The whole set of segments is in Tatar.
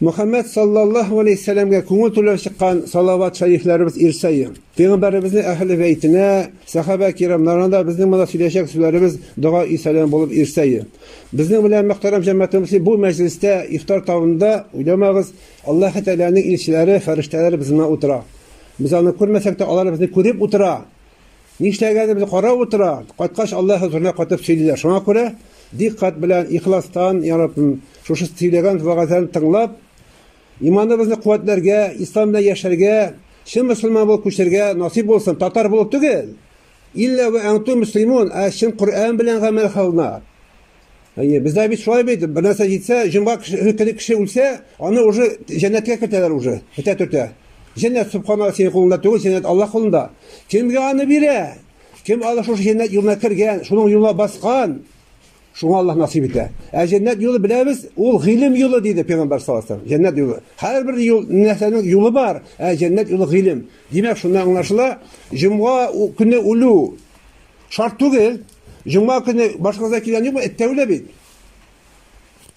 Мөхәммәд саллаллаһу галәйһи сәламгә күңел түләп чыккан салават шәрифләребез ир саен, пәйгамбәребезнең әһеле бәйтенә, сәхабә кирамнарына да безнең монда сөйләячәк сүзләребез дога-и сәлам булып ир саен. Безнең белән мөхтәрәм җәмәгатьнең мөслим бу мәҗлестә, ифтар табында, уйламагыз, Аллаһы Тәгаләнең илчеләре, фәрештәләре безнең белән утыра. Без аны күрмәсәк тә, алар безне күреп утыра! Нишләгәнебезне карап утыра, кайткач Аллаһ хозурына кайтып сөйлиләр. Шуңа күрә дикъкать белән, ихластан, Йа Раббым, шушы сөйләгән вәгазьләрне тыңлап, иманыбызны куәтләргә, ислам белән яшәргә, чын мөселман булып күчәргә насыйп булсын, татар булып түгел, илла вә әнтум мөслимун, ә чын Коръән белән гамәл кылына. Әйе, бездә бит шулай бит, бер нәрсә җитсә, җомга көне кеше үлсә, аны уже җәннәткә кертәләр уже, көтә төртә. Җәннәт субхана синең кулыңда түгел, җәннәт Аллаһ кулында. Кемгә аны бирә? Кем Аллаһ шушы җәннәт юлына кергән, шуның юлына баскан, шуңа Аллаһ насыйп итә. Ә җәннәт юлы беләбез, ул гыйлем юлы диде пәйгамбәр саллаллаһу алейһи ва саллям. Җәннәт юлы. Һәрбер юл нәрсәнең юлы бар, ә җәннәт юлы гыйлем. Димәк, шуннан аңлашыла, җомга көне үлү шарт түгел. Җомга көне башкаларда килгән юкмы? Эт тә үлә бит.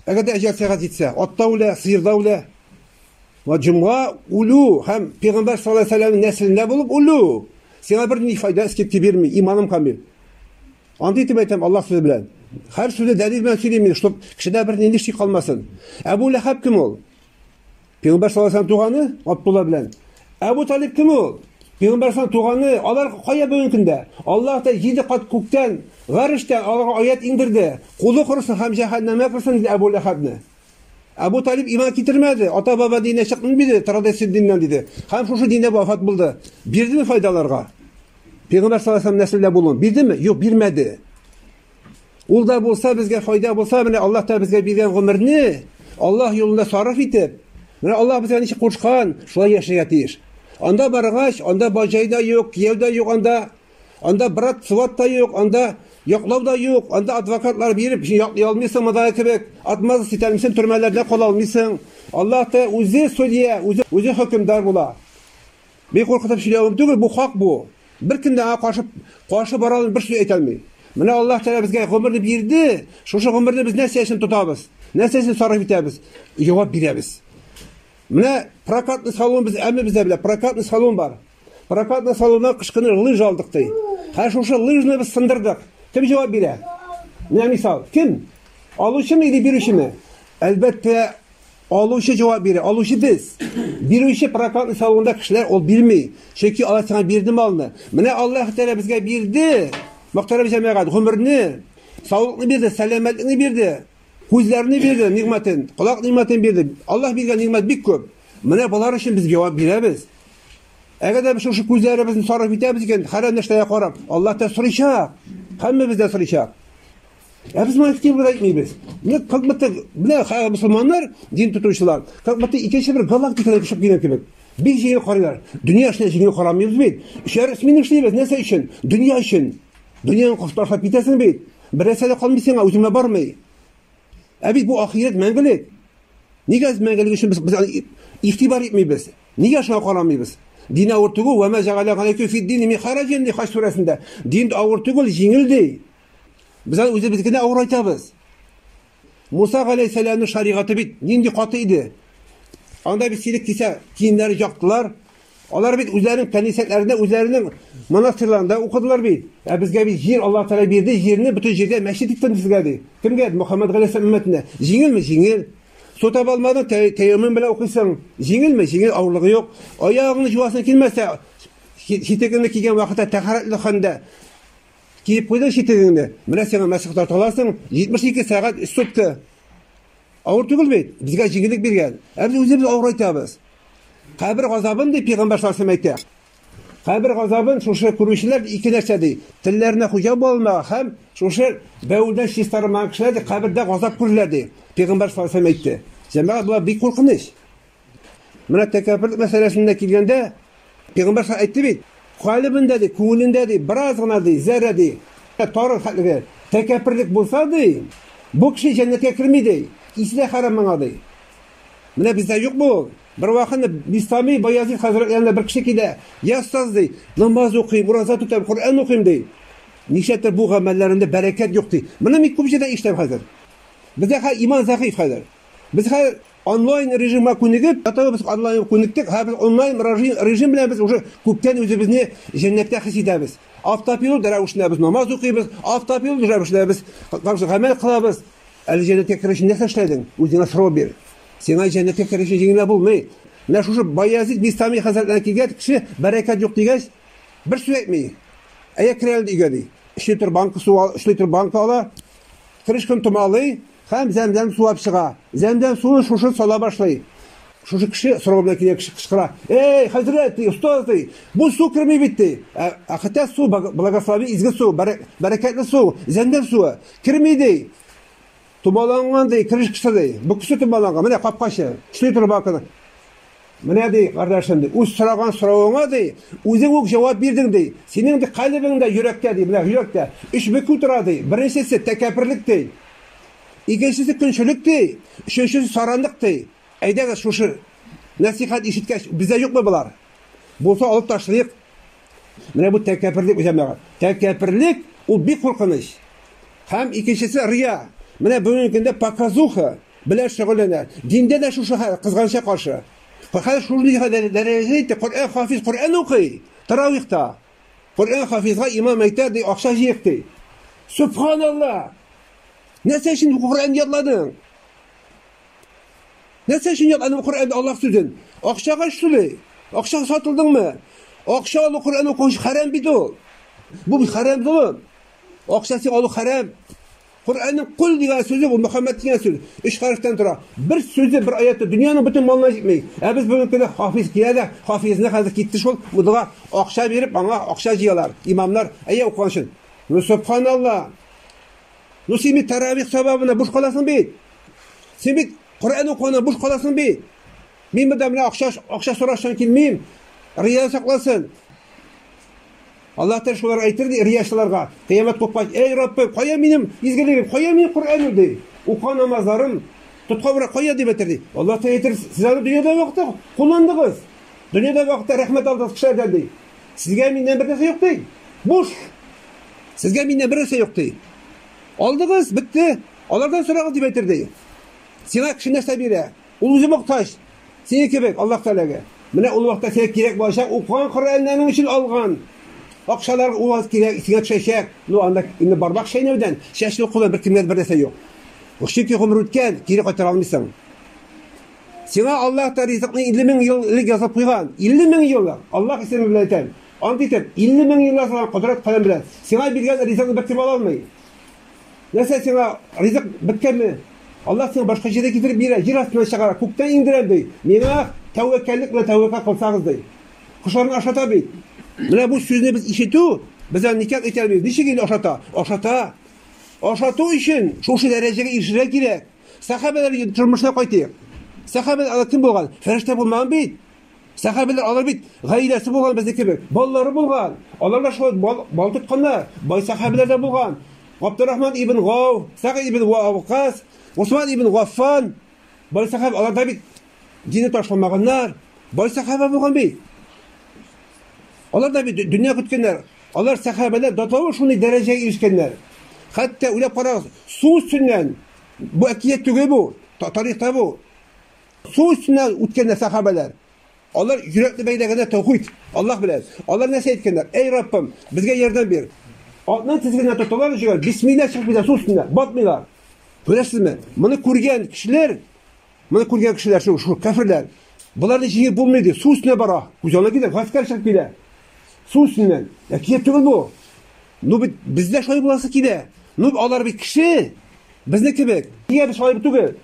Әгәр дә әҗәл сәгать җитсә, ат та үлә, сыер да үлә. Ва җомга үлү һәм пәйгамбәр саллаллаһу алейһи ва сәлләмнең нәселендә булып үлү. Сиңа бер ни файда эскерти бирми, иманым камил. Андый итеп әйтәм Аллаһ сүзе белән. Һәр сүзе дәлил белән сөйлим мин, чтобы кешедә бер нинди шик калмасын. Әбу Ләхәб кем ул? Пәйгамбәр саллаллаһу туганы Абдулла белән. Әбу Талиб кем ул? Пәйгамбәр саллаллаһу туганы, алар кая бүгенге көндә? Аллаһ та җиде кат күктән, гарештән аларга аят иңдерде. Кулы кырсын һәм җәһәннәмгә кырсын диде Әбу Ләхәбне. Әбу Талиб иман китермәде, ата-баба диненә чыкмый диде, традиция диненнән диде. Һәм шушы диндә вафат булды. Бирдеме файдаларга? Пәйгамбәр саллаллаһу алейһи ва сәлләм нәселдә булуын бирдеме? Юк, бирмәде. Ул да булса безгә файда булса, менә Аллаһ та безгә биргән гомерне Аллаһ юлында сарыф итеп, менә Аллаһ безгә ничек кушкан, шулай яшәргә тиеш. Анда баргач, анда баҗай да юк, кияү дә юк анда. Анда брат, сват та юк, анда яклау да юк, анда адвокатлар биреп яклый алмыйсың мондагы кебек. Атмазы ситәлмисең, төрмәләрдә кала алмыйсың. Аллаһ та үзе судья, үзе, үзе хөкемдар була. Мин куркытып сөйләвем түгел, бу хак бу. Беркем дә аңа каршы каршы бара алмый, бер сүз әйтә алмый. Менә Аллаһ Тәгалә безгә гомерне бирде, шушы гомерне без нәрсә өчен тотабыз? Нәрсә өчен сарыф итәбез? Җавап бирәбез. Менә прокатный салон без әмме бездә белә, прокатный салон бар. Прокатный салоннан кышкыны лыж алдык ди. Хәзер шушы лыжны без сындырдык. Кем җавап бирә? Менә мисал, кем? Алучымы или бирүчеме? Әлбәттә, Алучы җавап бирә. Алучы без. Бирүче прокатный салонда кешеләр ул бирми. Чөнки алар сиңа бирде малны. Менә Аллаһ Тәгалә безгә бирде. Мөхтәрәм җәмәгать, гомерне, саулыкны бирде, сәламәтлекне бирде, күзләрне бирде, нигъмәтен, колак нигъмәтен бирде. Аллаһ биргән нигъмәт бик күп. Менә болар өчен без җавап бирәбез. Әгәр дә без шушы күзләребезне сарыф итәбез икән, хәрәм нәрсәгә карап, Аллаһ та сорыйчак. Һәммәбез дә сорыйчак. Ә без моны актив әйтмибез. Ник как будто менә хәзер мусульманнар, дин тотучылар, как будто икенче бер галактикада яшәп килгән кебек. Бик җиңел карыйлар. Дөнья эшенә җиңел карамыйбыз бит. Эшләр өчен эшлибез, нәрсә өчен? Дөнья өчен. Дөньяны кошташлап китәсең бит. Бер нәрсә дә калмый сиңа, үзеңә бармый. Ә бит бу ахирәт мәңгелек. Нигә без мәңгелек өчен без игътибар итмибез? Нигә шуңа карамыйбыз? Дин авыр түгел, вә ма җагаля галәйкү фид дин мин хараҗин ди хаҗ сүрәсендә. Дин авыр түгел, җиңел ди. Безән үзебез генә авырайтабыз. Муса галәйһиссәламның шаригате бит нинди каты иде. Анда бит сирек кисә киемнәре яктылар. Алар бит үзләренең кәнисәләрендә, үзләренең монастырьларында укыдылар бит. Ә безгә бит җир Аллаһ Тәгалә бирде, җирне бөтен җиргә мәчет иттем сезгә ди. Кемгә? Мөхәммәд галәйһиссәлам өммәтенә. Җиңелме? Җиңел. Су таба алмадың, тәйәммем белән укыйсың. Җиңелме? Җиңел, авырлыгы юк. Аягыңны җуасың килмәсә, читегеңне кигән вакытта тәһарәтле хәлдә Киеп куйдың читегеңне, менә сиңа мәсих тарталарсың, 72 сәгать өч сутка. Авыр түгел бит, безгә җиңеллек биргән. Ә без үзебез авырайтабыз. Кабер газабын дип пигамбар саллаллаһу әйтә. Кабер газабын шушы күрүчеләр ике нәрсә ди. Телләренә хуҗа булмаган һәм шушы бәүдә чистармаган кешеләр ди, кабердә газап күрерләр ди. Пигамбар саллаллаһу әйтте. Җәмәгать була бик куркыныч. Менә тәкәбберлек мәсьәләсендә килгәндә, пәйгамбәр ша әйтте бит, калыбында ди, күңелендә ди, бераз гына ди, зәрә ди, тары хәтлеге тәкәбберлек булса ди, бу кеше җәннәткә керми ди, исе дә хәрам моңа ди. Менә бездә юк бу. Бер вакытны Бистами Баязит хәзрәт янына бер кеше килә, "Я остаз" ди, "намаз укыйм, ураза тотам, Коръән укыйм" ди. Ничәтер бу гамәлләрендә бәрәкәт юк ди. Моны мин күп җирдә ишетәм хәзер. Бездә хәзер иман зәгыйфь хәзер. Без хәзер Онлайн режимга күнегеп, ятабыз, онлайнга күнектек, хәзер онлайн режим белән без уже күптән үзебезне җәннәттә хис итәбез. Автопилот рәвешендә без намаз укыйбыз, автопилот рәвешендә без гамәл кылабыз. Әле җәннәткә керер өчен нәрсә эшләдең? Үзеңә сорау бир. Сиңа җәннәткә керер өчен җиңел генә булмый. Менә шушы Баязит Бистами хәзрәтләренә килгән кеше бәрәкәт юк дигәч, бер сүз әйтми. Әйдә керәле өйгә ди. Өч литр банка су, өч литр банка ала, крышканы томалый, Һәм зәмзәм сулап чыга. Зәмзәм суын шушы сала башлый. Шушы кеше сорау белән килгән кеше кычкыра. Эй, хәзрәт, ди, остаз, ди, бу су керми бит, ди. Ә, ә хотя су, благослови, изге су, бәрә, бәрәкәтле су, зәмзәм суы. Керми, ди. Томаланган, ди, кереш кеше, ди. Бу кеше томаланган. Менә капкачы. Эшли торып бакыды. Менә ди, кардәшем ди, үз сораган соравыңа ди, үзең үк җавап бирдең ди. Синең ди калебеңдә, йөрәктә ди, менә йөрәктә өч бөкү тора ди. Беренчесе тәкәпперлек ди. Икенчесе көнчелек ди. Өченчесе саранлык ди. Әйдәгез шушы нәсихәт ишеткәч, бездә юкмы болар? Булса алып ташлыйк. Менә бу тәкәпперлек җәмәгать. Тәкәпперлек ул бик куркыныч. Һәм икенчесе рия. Менә бүгенге көндә показуха, Белән шөгыльләнә. Диндә дә шушы хәл, кызганычка каршы. Хәзер шундый дәрәҗәдә итте, Коръән хафиз Коръән укый, таравихта. Коръән хафизга имам әйтә, ди, акча җыйк, ди. Субханалла! Нәрсә өчен Коръән ятладың? Нәрсә өчен ятладың Коръән Аллаһ сүзен? Акчага шулай. Акча сатылдыңмы? Акча алу Коръән укучы хәрәм бит ул. Бу хәрәм золым. Акчасы алу хәрәм. Коръәннең көл дигән сүзе бу Мөхәммәд дигән сүз. Өч хәрефтән тора. Бер сүзе, бер аяты дөньяның бөтен малына җитми. Ә без бүгенге көндә хафиз килә дә, хафизны хәзер китте шул мудага акча биреп, аңа акча җыялар, имамнар, әйе укыган өчен. Ну субханалла. Ну син бит таравих сабабына буш каласың бит. Син бит Коръән укуына буш каласың бит. Мин монда менә акча акча сорашчан килмим. Рия сакласын. Аллаһ Тәгалә шулар әйтер ди риясыларга, кыямәт купкач, Әй Раббым, кая минем изгелегем, кая минем Коръәнем ди. Укыган намазларым, тоткан урак кая дип әйтер ди. Аллаһ Тәгалә әйтер, сез аны дөньяда вакытта кулландыгыз. Дөньяда вакытта рәхмәт алдыгыз кешеләрдән ди. Сезгә миннән бер нәрсә юк ди. Буш. Сезгә миннән бер нәрсә юк ди. Алдыгыз, бетте. Алардан сорагыз дип әйтер ди. Сиңа кеше нәрсә бирә? Ул үзе мохтаҗ. Синең кебек, Аллаһ Тәгаләгә. Менә ул вакытта сиңа кирәк булачак, укыган Коръәннәрең өчен алган акчалар ул вакыт кирәк, сиңа төшәчәк. Ну, анда инде бармак чәйнәүдән, чәч йолкудан беркемгә дә бер нәрсә юк. Чөнки гомер үткән, кире кайтара алмыйсың. Сиңа Аллаһ та ризыкны 50 мең ел элек язып куйган. 50 мең ел, Аллаһ исеме белән әйтәм. Ант итеп, 50 мең ел язылган кодрәт каләм белән. Сиңа биргән ризыкны беркем ала алмый. Нәрсә сиңа ризык беткәнме? Аллаһ сиңа башка җирдә китереп бирә, җир астына чыгара, күктән иңдерә ди. Миңа тәвәккәллек белән тәвәккәл кылсагыз ди. Кошларны ашата бит. Менә бу сүзне без ишетү, без аны никак әйтә алмыйбыз. Ничек инде ашата? Ашата. Ашату өчен шушы дәрәҗәгә ирешергә кирәк. Сәхабәләр тормышына кайтыйк. Сәхабә ала кем булган? Фәрештә булмаган бит. Сәхәбәләр алар бит гаиләсе булган безнең кебек, балалары булган. Алар да шулай бал, бал тотканнар. Бай сәхәбәләр дә булган. Габдуррахман ибн Гау, Сагид ибн Вакас, Усман ибн Гаффан. Бай сәхәбә алар да бит динне ташламаганнар. Бай сәхәбә булган бит. Алар да бит дөнья көткәннәр. Алар сәхәбәләр датавы шундый дәрәҗәгә ирешкәннәр. Хәтта үләп карагыз, су өстеннән бу әкият түгел бу, тарихта бу. Су өстеннән үткәндә сахабәләр, алар йөрәкне бәйләгәндә тәүхид, Аллаһ белән. Алар нәрсә әйткәннәр? Әй Раббым, безгә ярдәм бир. Атны тизгенә тоталар өчен бисмилла чыкмыйлар су өстенә, батмыйлар. Күрәсезме? Моны күргән кешеләр, моны күргән кешеләр шул, шул кафирләр. Боларны җиңеп булмый ди, су өстенә бара. Күз алдына килә, гаскәр чыгып килә. Су өстеннән. Әкият түгел бу. Ну бит бездә шулай буласы килә. Ну алар бит кеше. Безне кебек. Нигә без шулай түгел?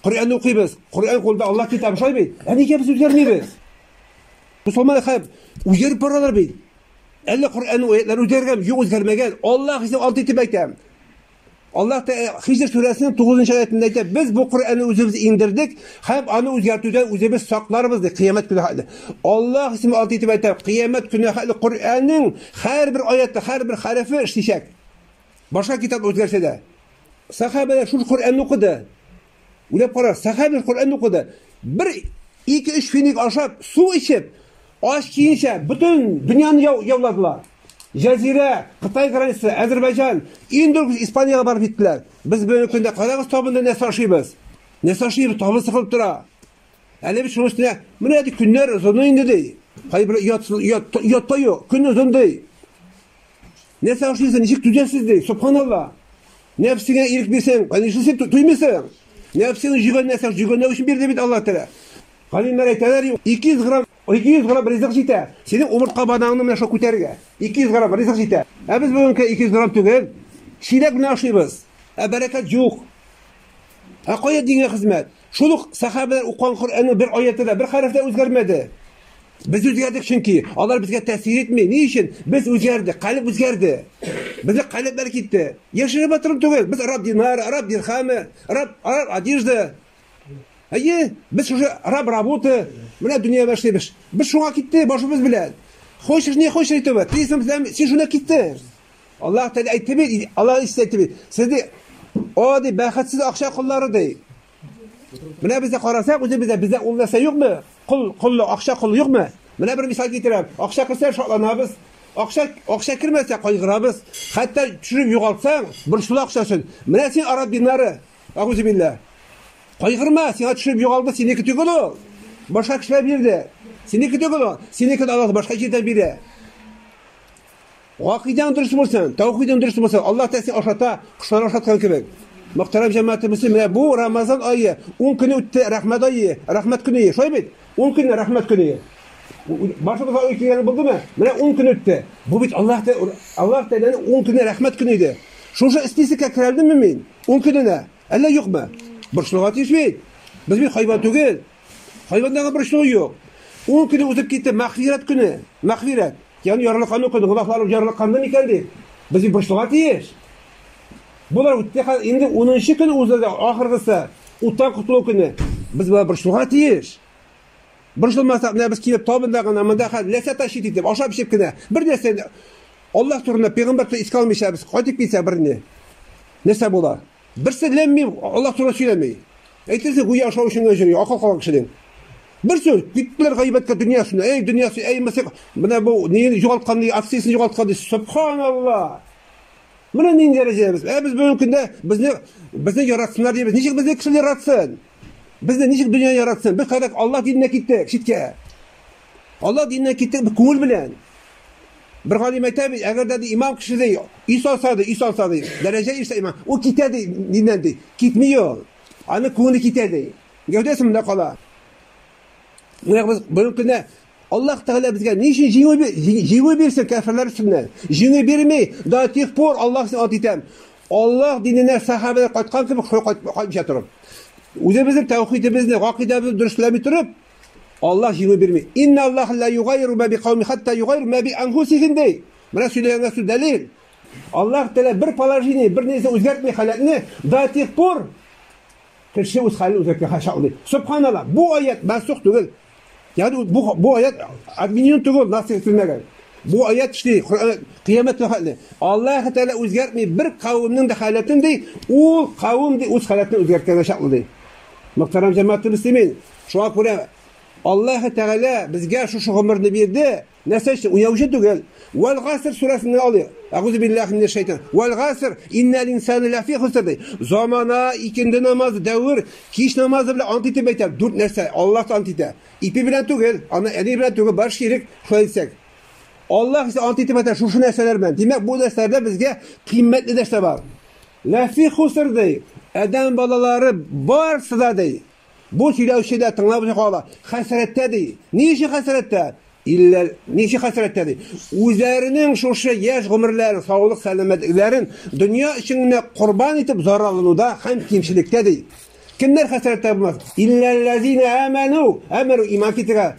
Коръән укыйбыз. Коръән кулда Аллаһ китабы шулай бит. Ә нигә без үзгәрмибез? Мусламан хәб үзгәреп баралар бит. Әллә Коръәннең аятлары үзгәргән, юк үзгәрмәгән. Аллаһ исә алты итеп әйтә. Аллаһ та э, Хижр сүрәсенең 9 аятында әйтә, без бу Коръәнне үзебез иңдердек һәм аны үзгәртүдән үзебез сакларбыз ди кыямәт көне хәтле. Аллаһ исеме алты итеп әйтә, кыямәт көне хәтле Коръәннең һәрбер аяты, һәрбер хәрефе эшләячәк. Башка китап үзгәрсә дә. Сахабәләр шул Коръәнне укыды. Уйлап кара, сахабәләр Коръәнне укыды. Бер 2-3 финик ашап, су эчеп, ач киенчә бөтен дөньяны яуладылар. Җазирә, Кытай границасы, Әзербайҗан, иң дөрес Испаниягә барып җиттеләр. Без бүгенге көндә карагыз табында нәрсә ашыйбыз? Нәрсә ашыйбыз? Табы сыгылып тора. Әле бит шуның өстенә, менә ди көннәр озын инде ди. Кайбер ят ят ятта юк, көн озын ди. Нәрсә ашыйсың, ничек түзәсез ди, субханалла. Нәфсеңә ирек бирсәң, нишлисең, туймыйсың. Нәфсеңне җигән нәрсә, җигәнләү өчен бирде бит Алла Тәгалә. Галимнәр әйтәләр, 200 грамм, 200 грамм ризык җитә. Синең умыртка бадаңны менә шул күтәрергә. 200 грамм ризык җитә. Ә без бүгенге 200 грамм түгел, чиләк белән ашыйбыз. Ә бәрәкәт юк. Ә кая дингә хезмәт? Шул ук сәхабәләр укыган Коръәннең бер аяты да, бер хәреф тә үзгәрмәде. Без үзгәрдек, чөнки алар безгә тәэсир итми. Ни өчен? Без үзгәрдек, калеб үзгәрде. Безнең калебләр китте. Яшереп атырым түгел. Без раб динар, раб дирхамы, раб раб одежда. Әйе, без шушы раб работы, менә дөнья башлыйбыз. Без шуңа китте башыбыз белән. Хочешь, не хочешь, әйтәбез. Тилсәм, син шуна китте. Аллаһ Тәгалә әйтте бит, Аллаһ Иисус әйтте бит. Сезне о ди бәхетсез акча куллары ди. Менә бездә карасак, үзебездә бездә ул нәрсә юкмы? Кул, куллы акча кулы юкмы? Менә бер мисал китерәм. Акча керсә шатланабыз. Акча, акча кермәсә кайгырабыз. Хәтта төшереп югалтсаң, бер шул акчасын. Менә син араб динары. Агузы биллә. Кайгырма, сиңа төшереп югалды, синеке түгел ул. Башка кешеләр бирде. Синеке түгел ул. Синеке Аллаһ башка җирдән бирә. Гакыйдәң дөрес булсын, тәүхидең дөрес булсын, Аллаһ Тәгалә сине ашата, кошлар ашаткан кебек. Мөхтәрәм җәмәгате мөслим, менә бу Рамазан ае, 10 көне үтте, рәхмәт ае, рәхмәт көне, шулай бит? 10 көнне рәхмәт көне. Башыбызга ой килгәне булдымы? Менә 10 көн үтте. Бу бит Аллаһ Аллаһ Тәгаләнең 10 көне рәхмәт көне иде. Шушы спискка керәлдемме мин? 10 көненә. Әллә юкмы? Борчылуга тиеш бит. Без бит хайван түгел. Хайвандагы борчылу юк. 10 көне үтеп китте, мәхфирәт көне. Мәхфирәт. Ян ярлыккан укыды, гөнаһларым ярлыкканды микән ди? Без борчылга тиеш. Болар үтте хәзер инде 10 көн узды да ахыргысы уттан котылу көне. Без болар борчылга тиеш. Борчылмасак, менә без килеп табында гына, монда хәзер нәрсә ташыйт итеп, ашап эчеп кенә. Бер нәрсә Аллаһ турында, пәйгамбәр турында искә алмыйча без кайтып китсә берне. Нәрсә була? Берсе ләммим Аллаһ турында сөйләми. Әйтерсең, гүя ашау өчен генә җыри, акыл калган кешедән. Бер сүз, киттеләр гайбәткә дөньясына. Эй, дөньясы, эй, мысык, менә бу неен югалткан, ди, акциясен югалткан, ди. Субханаллаһ. Менә нинди дәрәҗәдә без. Ә без бүгенге көндә безне безне яратсыннар дибез. Ничек безне кеше яратсын? Безне ничек дөнья яратсын? Без хәзер Аллаһ диненә киттек, читкә. Алла диненә китте бер күңел белән. Бер галим әйтә бит, әгәр дә имам кеше ди, өй салса ди, өй салса ди, дәрәҗә ирсә имам, ул китә ди диннән ди. Китми ул. Аны күңеле китә ди. Гәүдәсе монда кала. Менә без бүгенге көндә Аллаһ Тәгалә безгә ни өчен җиңү җиңү бирсен кәферләр өстеннән? Җиңү бирми, до тех пор Аллаһ син ат итәм. Аллаһ диненә сахабәләр кайткан кебек кайтмыйча торып. Үзебезнең тәүхидебезне, гакыйдәбезне дөресләми торып, Аллаһ җиңү бирми. Инна Аллаһ ла югайру ма бикауми хатта югайру ма би анфусихим ди. Менә сөйләгәнгә сүз дәлил. Аллаһ Тәгалә бер положение, бер нәрсә үзгәртми халәтне до тех пор кеше үз хәлен үзгәртә хаша алмый. Субханалла, бу аят мәсух түгел. Ягъни бу бу аят админин түгел, насих ителмәгән. Бу аят шли, кыямәт хәлне. Аллаһ Тәгалә үзгәртми бер кавымның да халәтен ди, ул кавым ди үз халәтен үзгәртә дә чаклы ди. Мөхтәрәм җәмәгать мөслимин, Шуңа күрә Аллаһы Тәгалә безгә шушы гомерне бирде. Нәрсә өчен? Уяучы түгел. Вәл гаср сүрәсен генә алыйк. Әгузу биллахи минәш шайтан. Вәл гаср иннәл инсана ләфи хуср ди. Замана, икенде намазы, дәвер, кич намазы белән ант итеп әйтә. Дүрт нәрсә Аллаһ ант итә. Ипи белән түгел, аны әни белән түгел, бар ширек, шулай дисәк. Аллаһ исә ант итеп әйтә шушы нәрсәләр белән. Димәк, бу нәрсәләрдә безгә кыйммәтле нәрсә бар. Ләфи хуср ди. Адәм балалары барсы да ди. Бу сөйләүче дә, тыңлаучы кала. Хәсрәттә ди. Ни өчен хәсрәттә? Илләр, ни өчен хәсрәттә ди? Үзләренең шушы яшь гомерләрен, саулык сәламәтләрен дөнья өчен генә корбан итеп зарарлануда һәм кимчелектә ди. Кемнәр хәсрәттә булмас? Илләлләзина аману, амару иман китергә.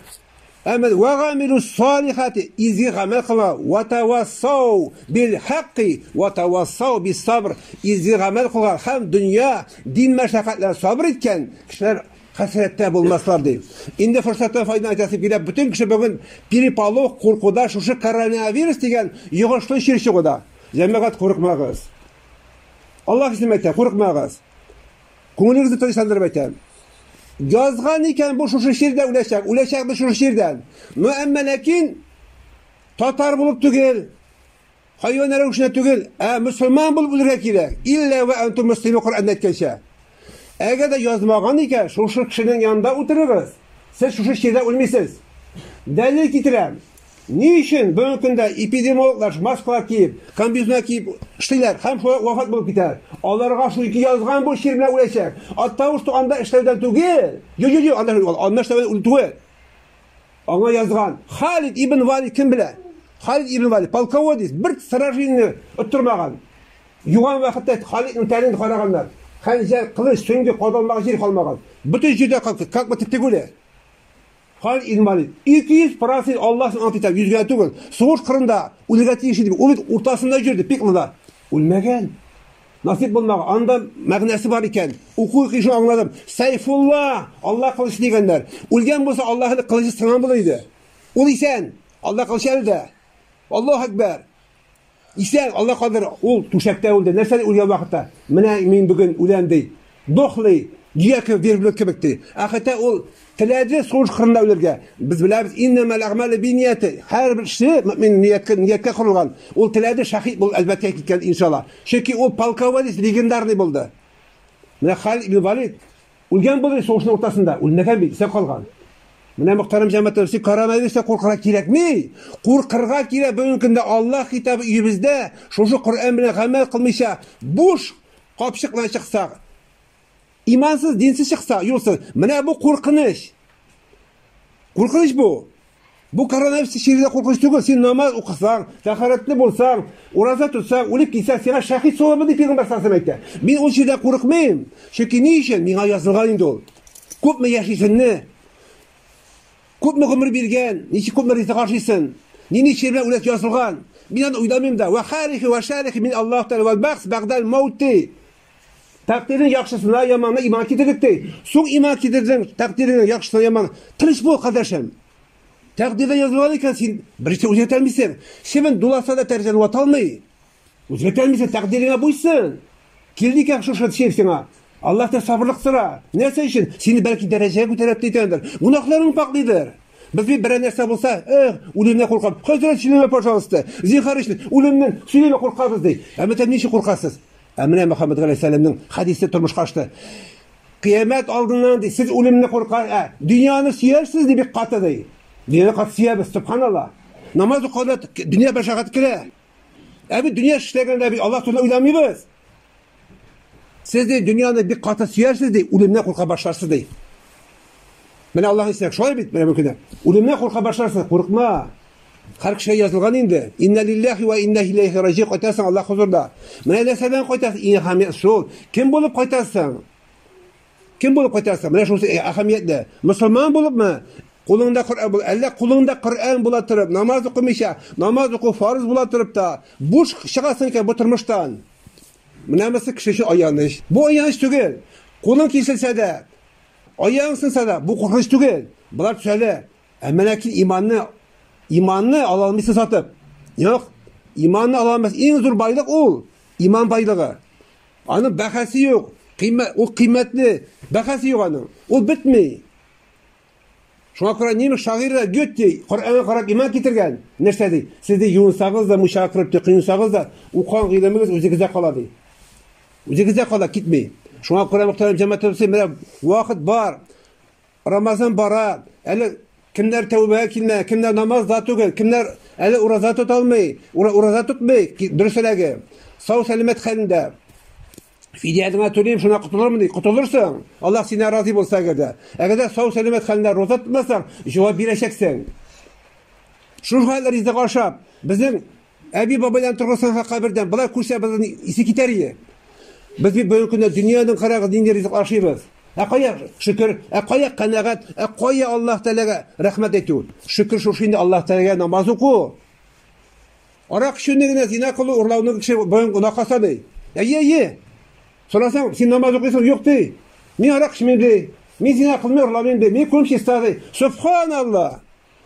Әмәл вә гамилу салихати изге гамәл кыла вә тавассау бил хакки вә тавассау бис сабр изге гамәл кылган һәм дөнья дин мәшәкатьләр сабыр иткән кешеләр хәсрәттә булмаслар ди. Инде форсаттан файдан әйтәсе килә, бөтен кеше бүген переполох, куркуда, шушы коронавирус дигән йогышлы чир чыгуда. Җәмәгать курыкмагыз. Аллаһ исем әйтә, курыкмагыз. Күңелегезне тынычландырып әйтәм. Язган икән бу шушы җирдә үләчәк, үләчәк бу шушы җирдән. Но әмма ләкин татар булып түгел, хайван рәвешенә түгел, ә мөселман булып үлергә кирәк. Иллә вә антум муслиму Коръәндә әйткәнчә. Әгәр дә язмаган икән, шушы кешенең янында утырыгыз. Сез шушы җирдә үлмисез. Дәлил китерәм. Ни өчен бүгенге көндә эпидемиологлар маскалар киеп, комбинезоннар киеп эшлиләр һәм шулай вафат булып китә? Аларга шульки язган бу чир белән үләчәк. Оттого, что анда эшләүдән түгел. Ю-ю-ю, анда анда эшләүдән түгел. Аңа язган. Халид ибн Валид кем белә? Халид ибн Валид полководец, бер сражение оттырмаган. Юган вакытта Халидның тәнен караганнар. Хәнҗәр, кылыч, сөңге кадалмаган җир калмаган. Бөтен җирдә как бы тегүле. Халит инвалид. 200 процент Аллаһ ант итә, йөзгә түгел. Сугыш кырында үлергә тиеш иде. Ул бит уртасында йөрде, пик монда. Үлмәгән. Насип булмаган. Анда мәгънәсе бар икән. Уку кишу аңладым. Сайфулла, Аллаһ кылычы дигәннәр. Үлгән булса, Аллаһ әле кылычы сынган булыр иде. Ул исән. Аллаһ кылычы әле дә. Аллаһ әкбәр. Исән, Алла кадәр ул түшәктә үлде, нәрсәне үлгән вакытта, менә мин бүген үләм, ди. Дохлый, дөя кебек, верблюд кебек, ди. Ә хәтта ул теләде сугыш кырында үлергә. Без беләбез, иннәмәл әгъмәле биннияте, һәрбер эше мөэмин нияткә, нияткә корылган. Ул теләде, шәһид булып әлбәттә киткән, иншалла. Чөнки ул полководец легендарный булды. Менә Халид ибн Валид, Үлгән булды сугышның уртасында, үлмәгән бит, исә калган. Менә мөхтәрәм җәмәтәр, сез коронавирустан куркырга кирәкми. Куркырга кирәк бүгенге көндә Аллаһ китабы өебездә, шушы Коръән белән гамәл кылмыйча, буш капчык белән чыксак, имансыз, динсез чыкса, юлсыз. Менә бу куркыныч. Куркыныч бу. Бу коронавирус чирдә куркыныч түгел. Син намаз укысаң, тәхарәтле булсаң, ураза тотсаң, үлеп китсәң, сиңа шәхид савабы дип пигамбәр саллаллаһу әйтә. Мин ул чирдә курыкмыйм. Чөнки ни өчен миңа язылган инде ул. Күпме яшисеңне, күпме гомер биргән, ничек күпме ризык ашыйсың, нинди чир белән үләт язылган. Мин аны уйламыйм да. Ва харихи ва шарихи мин Аллаһ тәгалә вал бахс багдал маути. Тәкъдирнең яхшысына яманына иман китердек ди. Соң иман китердең, тәкъдирнең яхшысына яман. Тыныч бул, кардәшем. Тәкъдирдә язылган икән, син беренче үзгәртә алмыйсың. Чебен дуласа да тәрҗәне вата алмый. Үзгәртә алмыйсың, тәкъдиреңә буйсын. Килде икән шушы чир сиңа. Аллаһ та сабырлык сора. Нәрсә өчен? Сине бәлки дәрәҗәгә күтәреп титәндер. Гунахларың пакълыйдыр. Без бит берәр нәрсә булса, эх, үлемне куркам. Хәзрәт чилеме, пожалуйста. Зинхар өчен үлемнән сөйләмә куркабыз ди. Әмма тәм ничек куркасыз? Ә менә Мөхәммәд галәйһиссәламнең хәдисе тормышка ашты. Кыямәт алдыннан ди, сез үлемне курка, ә дөньяны сөярсез ди бик каты ди. Дөньяны каты сөябез, субханалла. Намаз укыганда дөнья башагат керә. Ә бит дөнья эшләгәндә бит Аллаһ турында уйламыйбыз. Сез ди дөньяны бик каты сөярсез ди, үлемнән курка башларсыз ди. Менә Аллаһ исәк, шулай бит менә бу көндә. Үлемнән курка башларсыз, курыкма. Кар кешегә язылган инде. Инна лиллахи вә инна иләйхи раҗи кайтасың Аллаһ хозурда. Менә нәрсә белән кайтасың, иң әһәмият шул. Кем булып кайтасың? Кем булып кайтасың? Менә шул әһәмиятле. Мөселман булыпмы? Кулыңда Коръән бул, әллә кулыңда Коръән була торып, намаз укымыйча, намаз уку фарыз була торып та, буш чыгасың икән бу тормыштан. Менә монысы кеше өчен аяныч. Бу аяныч түгел. Кулың киселсә дә, аяң сынса да, бу куркыныч түгел. Болар төзәлә. Ә менә кил иманны, иманны ала алмыйсы сатып. Юк, иманны ала алмас. Иң зур байлык ул, иман байлыгы. Аны бәхәсе юк, кыйммәт, ул кыйммәтле, бәхәсе юк аның. Ул бетми. Шуңа күрә немец шагыйры Гетте Коръәнгә карап иман китергән. Нәрсә ди? Сез ди юынсагыз да, муйчага кереп тыкынсагыз да, укыган гыйлемегез үзегездә кала ди. Үзегездә кала китми. Шуңа күрә мөхтәрәм җәмәгать менә вакыт бар. Рамазан бара, әле кемнәр тәүбәгә килмә, кемнәр намаз да түгел, кемнәр әле ураза тота алмый, ураза тотмый, дөресрәге, сау сәламәт хәлендә. Фидиядеңә түлим, шуна котылырмын ди. Котылырсың. Аллаһ синә разый булса әгәр дә. Әгәр дә сау сәламәт хәлендә роза тотмасаң, җавап бирәчәксең. Шул хәл ризык ашап, безнең Әби бабайлар торгызсан ха кабердән, болар күрсә безнең исе китәр иде. Без бит бүгенге көндә дөньяның карагыз нинди ризык ашыйбыз. Ә кая шөкер, ә кая канәгать, ә кая Аллаһ Тәгаләгә рәхмәт әйтү? Шөкер шушы инде Аллаһ Тәгаләгә намаз уку. Арак эчүне генә зина кылу, урлауны кеше бүген гөнаһка саный. Әйе, әйе. Сорасаң, син намаз укыйсың, юк ди. Мин арак эчмим ди. Мин зина кылмыйм, урламыйм ди. Мин күрем чиста ди. Субханаллаһ.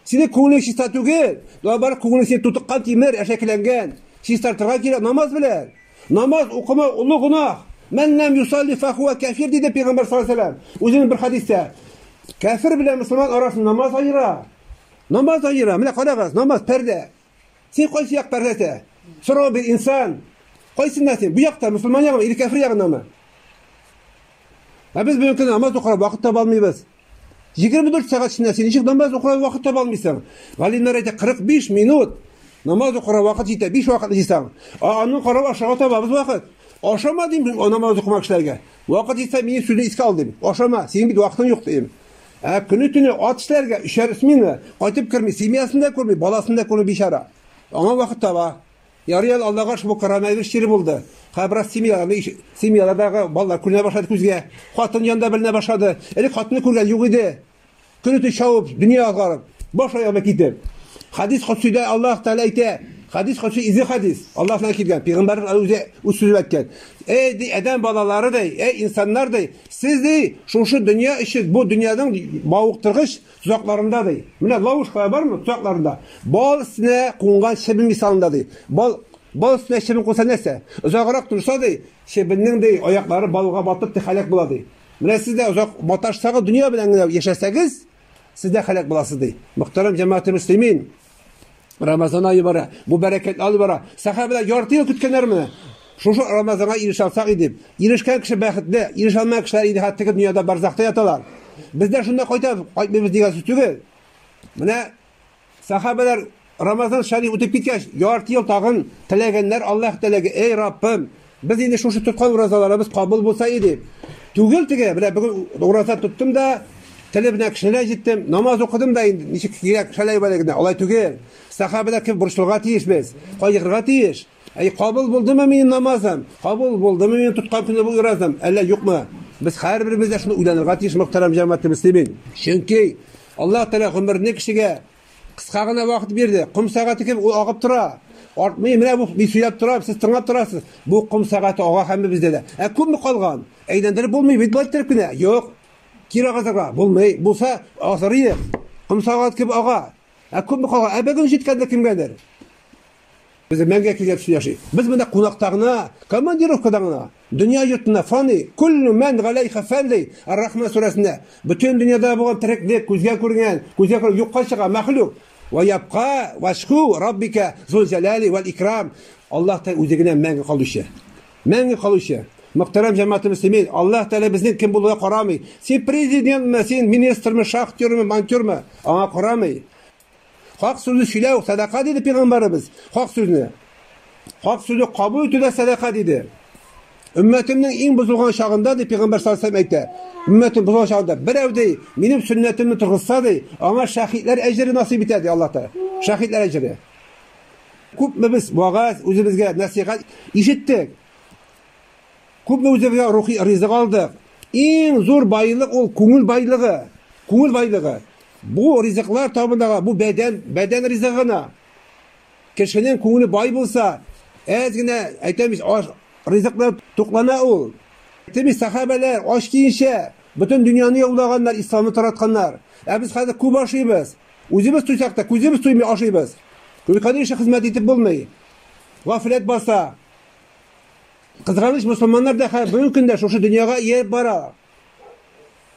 Синең күңелең чиста түгел. Наоборот, күңелең синең тутыккан тимер, әшәкеләнгән. Чистартырга кирәк намаз белән. Намаз укымау олы гөнаһ. Мән ләм юсалли фахуа кәфир, диде пәйгамбәр саллаллаһу алейһи ва сәлләм. Үзенең бер хәдистә. Кәфир белән мөселман арасын намаз аера. Намаз аера. Менә карагыз, намаз пәрдә. Син кайсы як пәрдәсә? Сорау бир, инсан. Кайсында син? Бу якта, мусульман ягы, или кәфир ягынамы? Ә без бүгенге намаз укырга вакыт таба алмыйбыз. 24 сәгать эчендә син ничек намаз укырга вакыт таба алмыйсың? Галимнәр әйтә 45 минут намаз укырга вакыт җитә, 5 вакыт җитсәң. А аның карап ашарга табабыз вакыт. Ашама дим, намаз укымак эшләргә. Вакыт җитсә, минем сүзне искә ал дим. Ашама, синең бит вакытың юк дим. Ә көне-төне ат эшләргә, өчәр смена, кайтып керми, семьясын да күрми, баласын да күрми бичара. Аңа вакыт таба. Ярый әле Аллага шул коронавирус чире булды. Хәзер бераз семьяларны, семьялардагы балалар күренә башлады күзгә. Хатын янда беленә башлады. Элек хатынны күргән юк иде. Көне-төне шавып, дөнья азгарып, баш аягына китеп. Хадис Кудсида Аллаһ Тәгалә әйтә, Хадис Кудси изе хадис. Аллаһ белән килгән. Пәйгамбәрнең үзе үз сүзен әйткән. Эй, ди, адәм балалары ди, эй, инсаннар ди, Сез, ди, шушы дөнья өчен, бу дөньяның мавыктыргыч тозакларында, ди. Менә ловушкалар бармы тозакларында? Бал өстенә кунган чебен мисалында, ди. Бал Бал өстенә чебен куса нәрсә? Озаграк торса, ди, чебеннең ди аяклары балга батып ди хәләк була, ди. Менә сез дә озак маташсагыз, дөнья белән генә яшәсәгез, сез дә хәләк буласыз, ди. Мөхтәрәм җәмәгате мөслимин, Рамазан айы бара, бу бәрәкәт алы бара. Сахабәләр ярты ел көткәннәр менә. Шушы Рамазанга ирешә алсак иде. Ирешкән кеше бәхетле, ирешә алмаган кешеләр инде хәтта теге дөньяда барзахта яталар. Без дә шунда кайтабыз, кайтмыйбыз дигән сүз түгел. Менә сахабәләр Рамазан шәриф үтеп киткәч, ярты ел тагын теләгәннәр Аллаһ теләге, эй Раббым, Без инде шушы тоткан уразаларыбыз кабул булса иде. Түгел теге, менә бүген ураза тоттым да, теле белән кешеләр җиттем, намаз укыдым да инде, ничек кирәк, шәләй бәләй генә. Алай түгел. Сахабәләр кебек борчылырга тиеш без. Кайгырырга тиеш. Әй, кабул булдымы минем намазым? Кабул булдымы минем тоткан көне бу уразам? Әллә юкмы? Без һәрберебез дә шуны уйланырга тиеш, мөхтәрәм җәмәгатьле мөслимин. Чөнки Аллаһ Тәгалә гомерне кешегә Кыска гына вакыт бирде. Ком сәгате кебек ул агып тора. Артмый, менә бу мин сөйләп торам, сез тыңлап торасыз. Бу ком сәгате ага һәмме бездә дә. Ә күпме калган? Әйләндереп булмый бит бу иттереп кенә. Юк. Кире агызырга булмый. Булса, азыр иде. Ком сәгате кебек ага. Ә күпме калган? Ә бүген җиткәндер кемгәдер. Үземәнгә килгән төсле яши. Без монда кунакта гына, командировкада гына. Дөнья йортына фани, куллу мән галәйха фән ди, Ар-Рахман сүрәсендә. Бөтен дөньяда булган тереклек, күзгә күренгән, күзгә күренмәгән, юкка чыга, мәхлук. Вә ябка вәҗху раббика зул җәлали вәл икрам. Аллаһ Тәгалә үзе генә мәңге калучы. Мәңге калучы. Мөхтәрәм җәмәгате мөслимин, Аллаһ Тәгалә безнең кем булуга карамый. Син президентмы, син министрмы, шахтермы, монтёрмы, аңа карамый. Хак сүзне сөйләү сәдака диде пигамбарыбыз. Хак сүзне. Хак сүзне кабул итү дә сәдака диде. Өммәтемнең иң бозылган чагында ди пигамбар саллаллаху алейһи әйтә. Өммәтем бозылган чагында берәү ди, минем сөннәтемне торгызса ди, аңа шәһидләр әҗере насыйп итә ди Аллаһ Тәгалә. Шәһидләр әҗере. Күпме без вагаз үзебезгә насихат ишеттек. Күпме үзебезгә рухи ризык алдык. Иң зур байлык ул күңел байлыгы. Күңел байлыгы. Бу ризыклар табындагы бу бәдән, бәдән ризыгы гына. Кешенең күңеле бай булса, әз генә әйтәмез, аш ризыклар туклана ул. Әйтәмез, сахабәләр ач киенчә бөтен дөньяны яулаганнар, исламны таратканнар. Ә без хәзер күп ашыйбыз. Үзебез туйсак та, күзебез туймый ашыйбыз. Өлкән ише хезмәт итеп булмый. Гафләт баса. Кызганыч, мөселманнар да бүгенге көндә шушы дөньяга ияреп бара.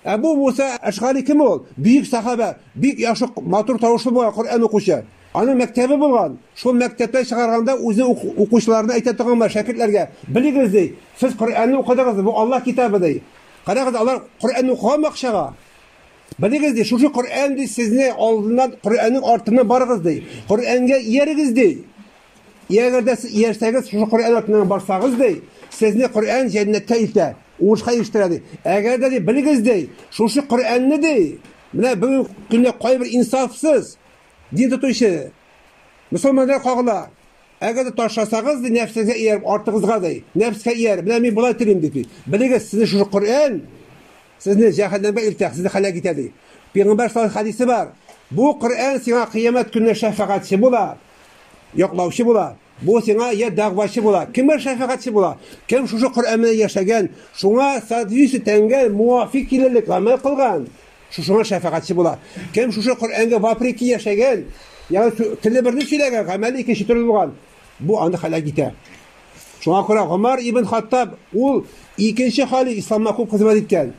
Әбу Муса Әшгари кем ул? Бөек сахабә, бик яхшы матур тавышлы булган Коръән укучы. Аның мәктәбе булган. Шул мәктәптән чыгарганда үзе укучыларына әйтә торган бар, шәкертләргә, белегез ди, сез Коръәнне укыдыгыз, бу Аллаһ китабы ди. Карагыз, алар Коръәнне укыганмы акчага? Белегез ди, шушы Коръән ди, сезне алдыннан Коръәннең артыннан барыгыз ди. Коръәнгә иярегез ди. Ягәр дә сез иярсәгез, шушы Коръән артыннан барсагыз ди, сезне Коръән җәннәткә илтә. Уңышка ирештерә, ди. Әгәр дә, ди, белегез, ди, шушы Коръәнне, ди, менә бүген көндә кайбер инсафсыз дин тотучы мөселманнар кагыла. Әгәр дә ташласагыз, ди, нәфсегезгә ияреп, артыгызга, ди, нәфскә ияреп, менә мин болай телим, ди, белегез, сезне шушы Коръән сезне җәһәннәмгә илтә, сезне хәлак итә, ди. Пәйгамбәр саллаллаһу алейһи хадисе бар. Бу Коръән сиңа кыямәт көненә шәфәгатьче була. яклаучы була, бу сиңа я дәгъвачы була, кемгә шәфәгатьче була, кем шушы Коръән белән яшәгән, шуңа соответствие тәнгә муафик килерлек гамәл кылган, шушыңа шәфәгатьче була. Кем шушы Коръәнгә вапреки яшәгән, ягъни теле берне сөйләгән, гамәле икенче төрле булган, бу аны хәлак итә. Шуңа күрә Гомар ибн Хаттаб ул икенче халиф исламга күп хезмәт иткән.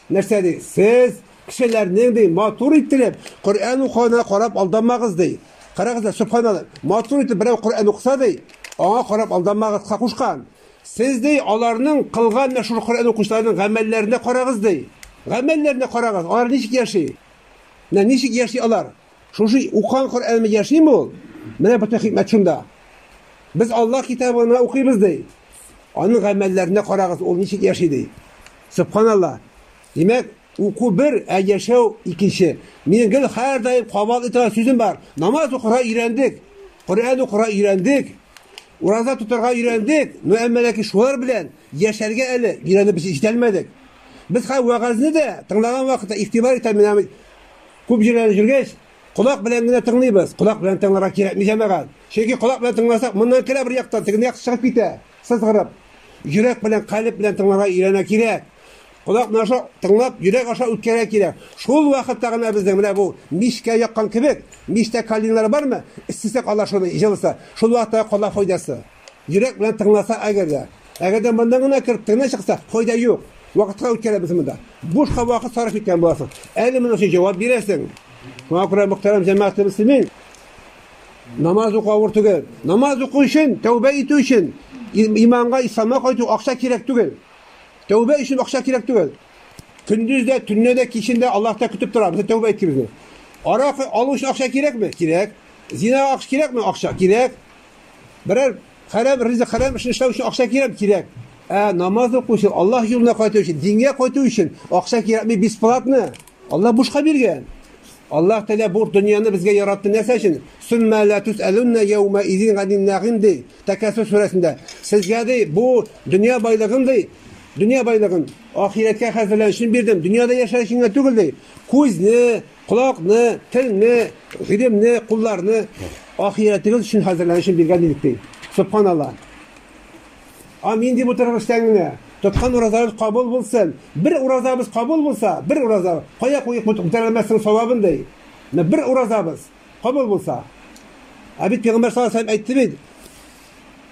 Нәрсә ди? Сез Кешеләрнең, ди, матур иттереп Коръән укуына карап алданмагыз, ди. Карагыз да, сөбханалла, матур итеп берәү Коръән укыса, ди, аңа карап алданмагыз, Кахушкан. Сез, ди, аларның кылган мәшһүр Коръән укучыларының гамәлләренә карагыз, ди. Гамәлләренә карагыз, алар ничек яши? Менә ничек яши алар? Шушы укыган Коръәнме яшиме ул? Менә бөтен хикмәт шунда. Без Аллаһ китабына укыйбыз, ди. Аның гамәлләренә карагыз, ул ничек яши, ди. Сөбханалла. Димәк, Уку бер, ә яшәү икенче. Минем гел һәрдаим кабатлый торган сүзем бар. Намаз укырга өйрәндек, Коръән укырга өйрәндек, ураза тотарга өйрәндек, но әмма ләкин шулар белән яшәргә әле өйрәнеп без җитәлмәдек. Без хәзер вәгазьне дә тыңлаган вакытта игътибар итәм, менә күп җирләрдә йөргәч, колак белән генә тыңлыйбыз. Колак белән тыңларга кирәкми җәмәгать. Чөнки колак белән тыңласак, моннан керә бер яктан, теге як чыгып китә, сызгырып. Йөрәк белән, калеб белән тыңларга өйрәнә кирәк. Колак наша тыңлап, йөрәк аша үткәрә кирә. Шул вакытта гына безнең менә бу мичкә яккан кебек, мичтә калинлар бармы? Эстесәк алар шуны, җылыса. Шул вакытта кола файдасы. Йөрәк белән тыңласа әгәр дә. Әгәр дә моннан гына кереп тыңна чыкса, файда юк. Вакытка үткәрә без монда. Бушка вакыт сарыф иткән буласың. Әле моның өчен җавап бирәсең. Шуңа күрә мөхтәрәм җәмәгать мөслимин, намаз уку авыр түгел. Намаз уку өчен, тәүбә итү өчен, иманга, исламга кайту акча кирәк түгел. Тәүбә өчен акча кирәк түгел. Көндез дә, төнне дә, кичен дә Аллаһ та көтеп тора, без тәүбә иткебезне. Арак алу өчен акча кирәкме? Кирәк. Зина акча кирәкме? Акча кирәк. Берәр хәрәм ризык, хәрәм эшне эшләү өчен акча кирәк, кирәк. Ә намаз укучы, Аллаһ юлына кайту өчен, дингә кайту өчен акча кирәкме бесплатно? Аллаһ бушка биргән. Аллаһ Тәгалә бу дөньяны безгә яратты нәрсә өчен? Сумма ла тусалунна яума изин ганин нагим ди. Тәкәссүр сүрәсендә. Сезгә ди бу дөнья байлыгын ди. Дөнья байлыгын ахирәткә хәзерлән өчен бирдем. Дөньяда яшәр өчен генә түгел ди. Күзне, колакны, телне, гыйлемне, кулларны ахирәтегез өчен хәзерлән өчен биргән идек ди. Субханаллаһ. Амин дип утырыгыз эштән генә. Тоткан уразагыз кабул булсын. Бер уразабыз кабул булса, бер ураза, кая куеп үтәрелмәсен савабын ди. Менә бер уразабыз кабул булса. Ә бит Пәйгамбәр саллаллаһу алейһи әйтте бит.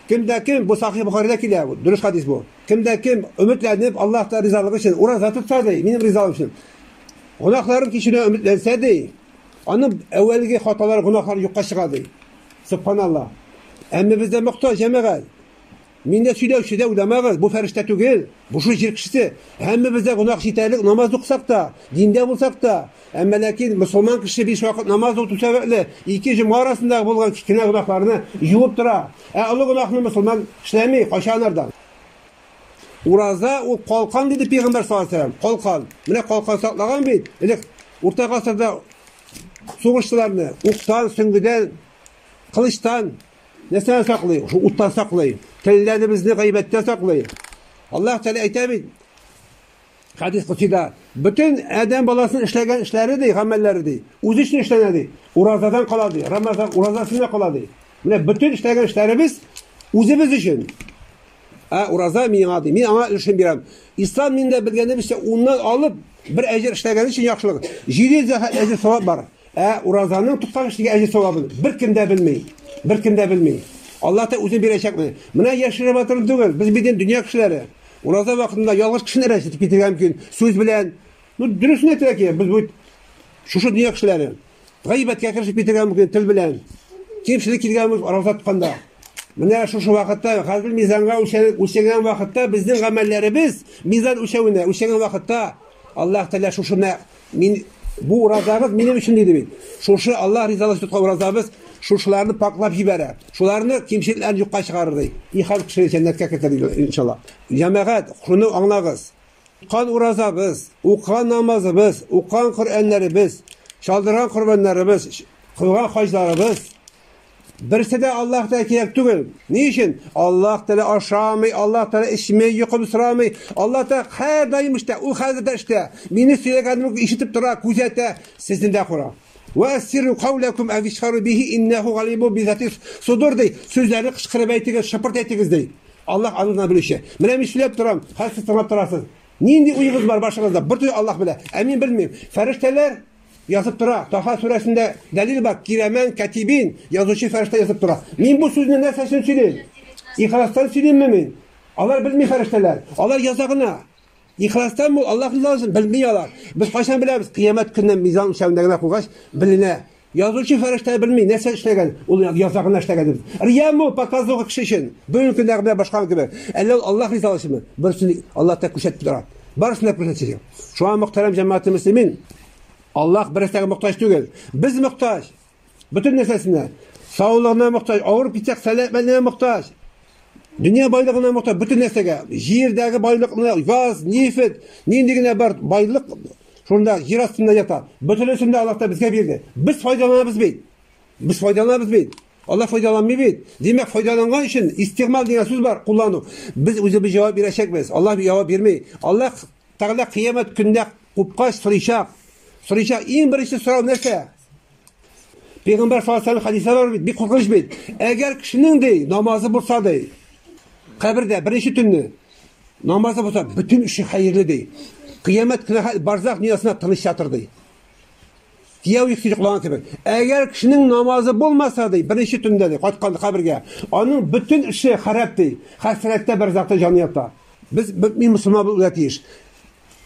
Кемдә кем бу Сахих Бухаридә килә, дөрес хадис бу. Кемдә кем өметләнеп Аллаһта ризалыгы өчен ураза тотса ди, минем ризалыгым өчен. Гунахларын кичерү өметләнсә ди, аның әүвәлге хаталары, гунахлары юкка чыга ди. Субханаллаһ. Әмма бездә мохтаҗ җәмәгать. Мин дә сөйләүче дә уйламагыз, бу фәрештә түгел, бу шул җир кешесе. Һәммәбез дә гөнаһ җитәрлек намаз укысак та, диндә булсак та, әмма ләкин мөселман кеше биш вакыт намаз укыту сәбәпле ике җомга арасындагы булган кечкенә гөнаһларны юып тора. Ә олы гөнаһны мөселман эшләми, кача анардан. Ураза ул калкан диде пигамбәр саллаллаху алейһи вәсәлләм. Калкан. Менә калкан саклаган бит. Элек урта гасырда сугышчыларны уктан, сөңгедән, кылычтан Нәрсәдән саклый? Шул уттан саклый. Телләребезне гайбәттән саклый. Аллаһ Тәгалә әйтә бит, хәдис кутида, бөтен адәм баласын эшләгән эшләре ди, гамәлләре ди, үзе өчен эшләнә ди. Уразадан кала ди, Рамазан уразасына кала ди. Менә бөтен эшләгән эшләребез үзебез өчен. Ә ураза миңа ди, мин аңа өлешен бирәм. Ислам миндә белгәнебезчә, уннан алып, бер әҗер эшләгән өчен яхшылык. 700 әҗер савап бар. Ә уразаның 90 кешегә әҗер савабын беркем дә белми. Беркем дә белми. Алла та үзе бирәчәкме? Менә яшереп атырым түгел. Без бит инде дөнья кешеләре. Ураза вакытында ялгыш кешене рәсетеп китергән мөмкин. Сүз белән. Ну, дөресен әйтергә кирәк. Без бит шушы дөнья кешеләре. Гайбәткә керешеп китергә мөмкин тел белән. Кимчелек килгән булып аралаша тотканда. Менә шушы вакытта хәзер мизанга үлчәнгән вакытта безнең гамәлләребез мизан үлчәвенә үлчәнгән вакытта Аллаһ Тәгалә шушыны мин бу уразагыз минем өчен диде бит. Шушы Аллаһ ризалыгы тоткан уразабыз шушыларны паклап җибәрә. Шуларны кимчелекләрен юкка чыгарыр ди. И халык кешеләр җәннәткә кертер иншалла. Җәмәгать, шуны аңлагыз. Тоткан уразабыз, укыган намазыбыз, укыган Коръәннәребез, чалдырган корбаннарыбыз, кылган хаҗларыбыз берсе дә Аллаһ Тәгалә кирәк түгел. Ни өчен? Аллаһ Тәгалә ашамый, Аллаһ Тәгалә эчми, йокым сорамый. Аллаһ Тәгалә һәрдаим эштә, ул хәзер дә эштә. Мине сөйләгәнемне ишетеп тора, күзәтә, сезне дә күрә. Вә әссиру кауләкүм әвишхару бихи иннәху галиму бизатис судур дей. Сүзләрне кышкырып әйтегез, шыпырт әйтегез дей. Аллах аны гына белүче. Менә мин сөйләп торам, хәзер сез тыңлап торасыз. Нинди уегыз бар башыгызда? Бер төн Аллах белә. Ә мин белмим. Фәрештәләр язып тора. Таха сүрәсендә дәлил бар. Кирамән катибин язучы фәрештә язып тора. Мин бу сүзне нәрсә өчен сөйлим? Ихластан сөйлимме мин? Алар белми фәрештәләр. Алар яза гына. Ихластан бул, Аллаһ риза булсын, белми алар. Без кайчан беләбез? Кыямәт көнне мизан үлчәвендә генә куйгач, беленә. Язучы фәрештә белми, нәрсә эшләгән, ул яза гына эшләгән. Рияму показуга кеше өчен. Бүгенге көндә генә башка кебек. Әллә ул Аллаһ риза булсынмы? Берсен Аллаһ та күрсәтеп тора. Барысын да күрсәтсен. Шуңа мөхтәрәм җәмәгате мөслимин, Аллаһ берсәгә мохтаҗ түгел. Без мохтаҗ. Бөтен нәрсәсенә. Саулыгына мохтаҗ, авырып китсәк, сәламәтленә мохтаҗ. Дөнья байлыгына мохтаҗ, бөтен нәрсәгә. Җирдәге байлыкны, газ, нефть, нинди генә бар байлык шунда җир астында ята. Бөтенесен дә Аллаһ та безгә бирде. Без файдаланабыз бит. Без файдаланабыз бит. Аллаһ файдаланмый бит. Димәк, файдаланган өчен истигъмал дигән сүз бар, куллану. Без үзебез җавап бирәчәкбез. Аллаһ җавап бирми. Аллаһ Тәгалә кыямәт көндә купкач сорыйчак. Сорыйчак. Иң беренче сорау нәрсә? Пәйгамбәр саллаллаху алейһи хәдисә бар бит, бик куркыныч бит. Әгәр кешенең ди намазы булса ди, кабердә беренче төнне намазы булса, бөтен эше хәерле ди. Кыямәт көне барзах дөньясына тыныч ятыр ди. Кияү икесе йоклаган кебек. Әгәр кешенең намазы булмаса ди, беренче төндә ди, кайткан кабергә, аның бөтен эше харап ди. Хәсрәттә барзахта җаны ята. Без мөмин мусламан булырга тиеш.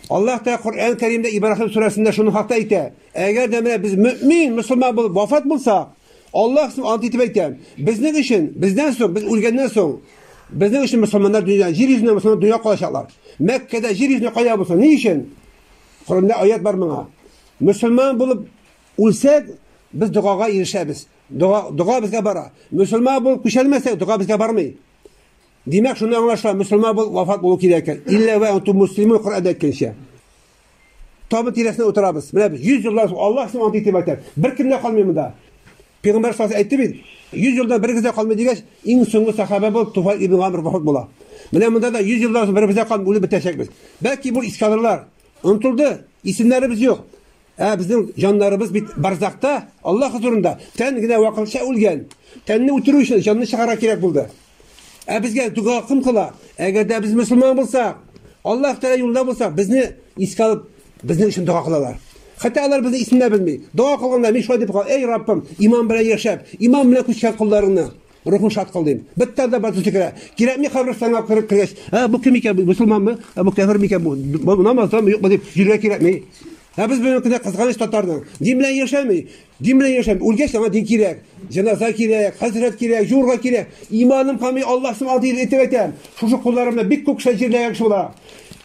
Аллаһ Тәгалә Коръән Кәримдә Ибраһим сүрәсендә шуның хакта әйтә. Әгәр дә менә без мөмин, мусламан булып вафат булсак, Аллаһ суб ант итеп әйтә, безнең өчен, бездән соң, без үлгәннән соң, безнең өчен мусламаннар дөнья, җир йөзенә мусламан дөнья калачаклар. Мәккәдә җир йөзенә кая булса, ни өчен? Коръәндә аят бар моңа. Мусламан булып үлсәк, без догага ирешәбез. Дога, дога безгә бара. Мусламан булып күчәлмәсәк, дога безгә бармый. Димәк, шуны аңлаша, мөселман бул, вафат булу кирәк икән. Илля ва анту муслимун Коръәндә әйткәнчә. Табын тирәсенә утырабыз. Менә без 100 еллар Аллаһ сиңа антый итеп әйтә. Бер кем дә калмый монда. Пәйгамбәр сас әйтте бит, 100 елда бер генә калмый дигәч, иң соңгы сахаба бул Туфа ибн Гамр вафат була. Менә монда да 100 еллар бер безә калмый, үлеп бетәчәкбез. Бәлки бу искадрлар онтылды, исемнәребез юк. Ә безнең җаннарыбыз бит барзакта, Аллаһ хозурында. Тән генә вакытча үлгән. Тәнне үтерү өчен җанны чыгарга кирәк булды. Ә безгә дога кем кыла? Әгәр дә без мөселман булсак, Аллаһ Тәгалә юлында булсак, безне искә алып, безнең өчен дога кылалар. Хәтта алар безне исендә белми. Дога кылганда мин шулай дип кал, эй Раббым, иман белән яшәп, иман белән күчкән кулларыңны, Рухың шат кыл дим. Бер тән дә батыр сикерә. Кирәкми каберстанга кер- кергәч, ә бу кем икән, бу мөселманмы, ә бу кәфер микән, бу бу намазданмы, юкмы дип йөрергә кирәкми. Ә без бүгенге көндә кызганыч татарның дин белән яшәми, дин белән яшәми. Үлгәч аңа дин кирәк, җеназа кирәк, хәзрәт кирәк, җурга кирәк. Иманым камый, Аллаһсым алды дип әйтеп әйтәм. Шушы кулларым белән бик күп кеше җирләгән кеше була.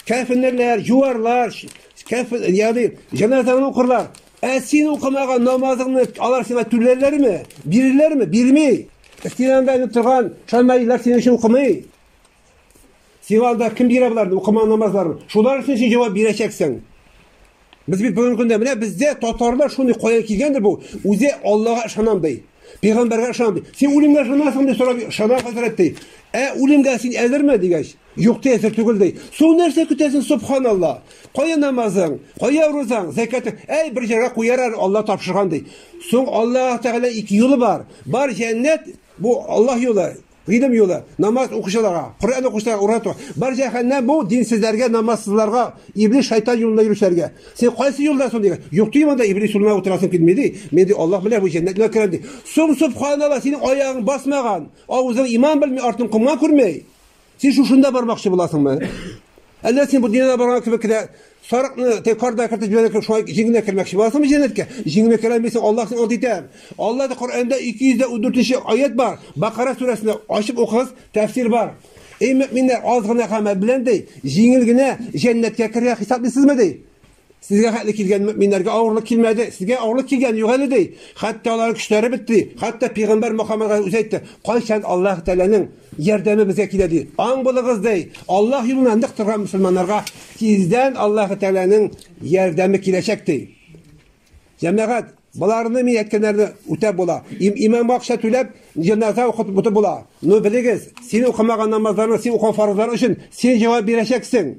Кәфенерләр, җуарлар, ш- кәф, ягъни җеназаны укырлар. Ә син укымаган намазыңны алар сиңа түләрләрме? Бирерләрме? Бирми. Стенаңда инеп торган шамайлар синең өчен укымый. Сиңа анда кем бирә боларны, укымаган намазларын? Шулар өчен син җавап бирәчәксең. Без бит бүгенге көндә менә бездә татарлар шуны каян килгәндер бу? Үзе Аллага ышанам ди. Пәйгамбәргә ышанам ди. Син үлемгә ышанасың ди, сорап ышана хәзрәт ди. Ә үлемгә син әзерме дигәч, Юк ти әзер түгел ди. Су нәрсә көтәсен субханалла. Кая намазың, кая рузаң, зәкәтең. Әй бер җиргә куяр әле Алла тапшырган ди. Соң Аллаһ Тәгалә ике юлы бар. Бар җәннәт бу Аллаһ юлы. Гыйлем юлы, намаз укучыларга, Коръән укучыларга урату. Бар җәһәннәм бу динсезләргә, намазсызларга, иблис шайтан юлында йөрүчеләргә. Син кайсы юлда соң дигән? Юк ди монда иблис юлына утырасың килми ди. Мин ди Аллаһ белән бу җәннәтне керәм ди. Сум субханалла, синең аягың басмаган, авызың иман белми, артын комган күрмәй. Син шушында бармакчы буласыңмы? Әллә син бу дөньяда барган кебек кенә сарыкны текарда кертеп җибәрә кебек шулай җиңенә кермәкче буласыңмы җәннәткә? Җиңенә керә алмыйсың, Аллаһ сине ант итә. Аллаһ да Коръәндә 214 аят бар. Бакара сүрәсендә ачып укыгыз, тәфсир бар. Эй мөминнәр, аз гына гамәл белән ди, җиңел генә җәннәткә керергә хисаплыйсызмы ди? Сезгә хәтле килгән мөэминнәргә авырлык килмәде. Сезгә авырлык килгән юк әле ди. Хәтта алар көчләре бетте. Хәтта пигамбәр Мөхәммәдгә үзе әйтте, "Кайчан Аллаһ Тәгаләнең ярдәме безгә килә" ди. Аң булыгыз ди. Аллаһ юлына нык торган мусульманнарга тиздән Аллаһ Тәгаләнең ярдәме киләчәк ди. Җәмәгать, Боларны мин әйткәннәрне үтәп була. Им, имам акча түләп, җеназа укытып бутып була. Ну, белегез, син укымаган намазларны син укыган фарызлар өчен син җавап бирәчәксең.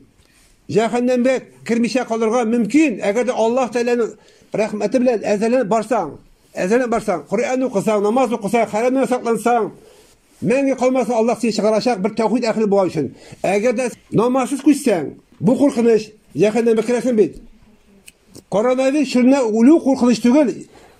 Җәһәннәмгә кермичә калырга мөмкин, әгәр дә Аллаһ Тәгаләнең рәхмәте белән әзерләнеп барсаң, әзерләнеп барсаң, Коръән укысаң, намаз укысаң, хәрәмнән саклансаң, мәңге калмасын Аллаһ сине чыгарачак бер тәүхид әһеле булган өчен. Әгәр дә намазсыз күчсәң, бу куркыныч, җәһәннәмгә керәсең бит. Коронавирус чорында үлү куркыныч түгел,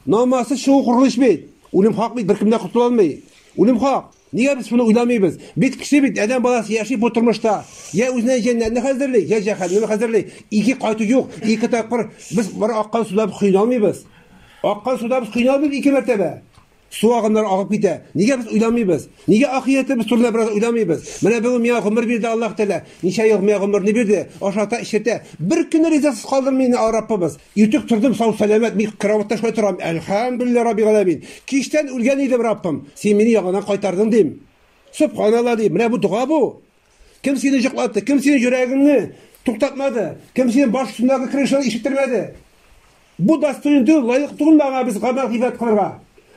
намазсыз чыгу куркыныч бит. Үлем хак бит, беркем дә котыла алмый. Үлем хак. Нигә без шуны уйламыйбыз? Без кеше бит, адәм баласы яши бу тормышта. Я үзенә җәннәтне хәзерли, я җәһәннәмне хәзерли. Ике кайту юк, ике тапкыр без бер аккан суда кыйналмыйбыз. Аккан суда без кыйналмыйбыз ике мәртәбә. Су агымнары агып китә. Нигә без уйламыйбыз? Нигә ахиятебез турында бераз уйламыйбыз? Менә бүген миңа гомер бирде Аллаһ Тәгалә. Ничә ел миңа гомерне бирде, ашата, эчертә. Бер көнне ризасыз калдырмый инде Раббыбыз. Иртүк тордым, сау-сәламәт, мин караватта шулай торам, әлхәмдүлилләһ раббил галәмин. Кичтән үлгән идем, Раббым, син мине яңадан кайтардың, дим. Сөбханалла, дим, менә бу дога бу. Кем сине җоклатты, кем синең йөрәгеңне туктатмады, кем синең баш өстендәге крышаны ишеттермәде? Бу достойны түгел, лаек түгелме аңа без гамәл гыйбадәт кылырга?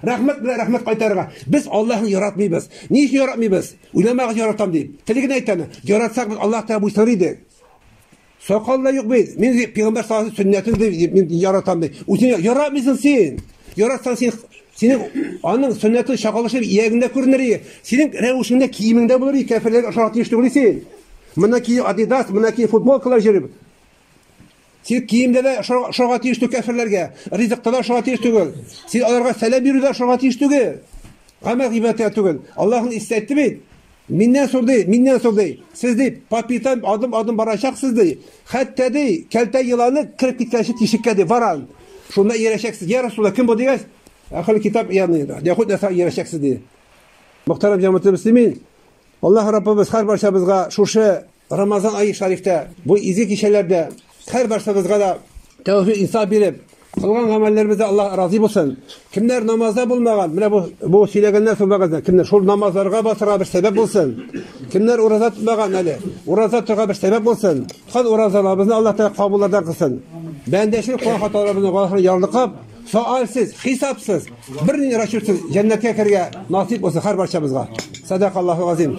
Рәхмәт белән рәхмәт кайтарырга. Без Аллаһны яратмыйбыз. Ни өчен яратмыйбыз? Уйламагыз яратам дип. Тели генә әйтәме? Яратсак без Аллаһ Тәгалә буйсыныр идек. Сакал да юк бит. Мин пигамбар саллаллаһу сөннәтен дип мин яратам ди. Үзең яратмыйсың син. Яратсаң син синең аның сөннәтен чакалышып иягендә күренер иде. Синең рәвешеңдә киемеңдә булыр иде. Кәферләргә ошарга тиеш түгел син. Мына ки Adidas, мына ки футболкалар җөреп. Син киемдә дә ошарга тиеш түгел кәферләргә. Ризыкта да ошарга тиеш түгел. Син аларга сәлам бирүдә ошарга тиеш түгел. Гамәл гыйбадәткә түгел. Аллаһның истәтте бит. Миннән сор, ди, миннән сор, ди. Сез, ди, по пятам адым-адым барачаксыз, ди. Хәтта, ди, кәлтә еланы кереп киткәнче тишеккә, ди, варан. Шунда иярәчәксез. Я Расулла, кем бу дигәч, әхел китап ягъни Яхуд Нәсара иярәчәксез, ди. Мөхтәрәм җәмәгатьле мөслимин, Аллаһ Раббыбыз һәр барчабызга шушы Рамазан ае шарифтә, бу изге кичәләрдә һәрбарсыбызга да тәүфик инсаф биреп, кылган гамәлләребездә Аллаһ разый булсын. Кемнәр намазда булмаган, менә бу бу сөйләгәннәр соң вәгазьдә, кемнәр шул намазларга басырга бер сәбәп булсын. Кемнәр ураза тотмаган әле, ураза торга бер сәбәп булсын. Тоткан уразаларыбызны Аллаһ Тәгалә кабуллардан кылсын. Бәндәшел кылган хаталарыбызны Аллаһ ярлыкап, соалсыз, хисапсыз, бернинди расчетсыз җәннәткә керергә насыйп булсын һәр барчабызга. Садакаллаһу азим.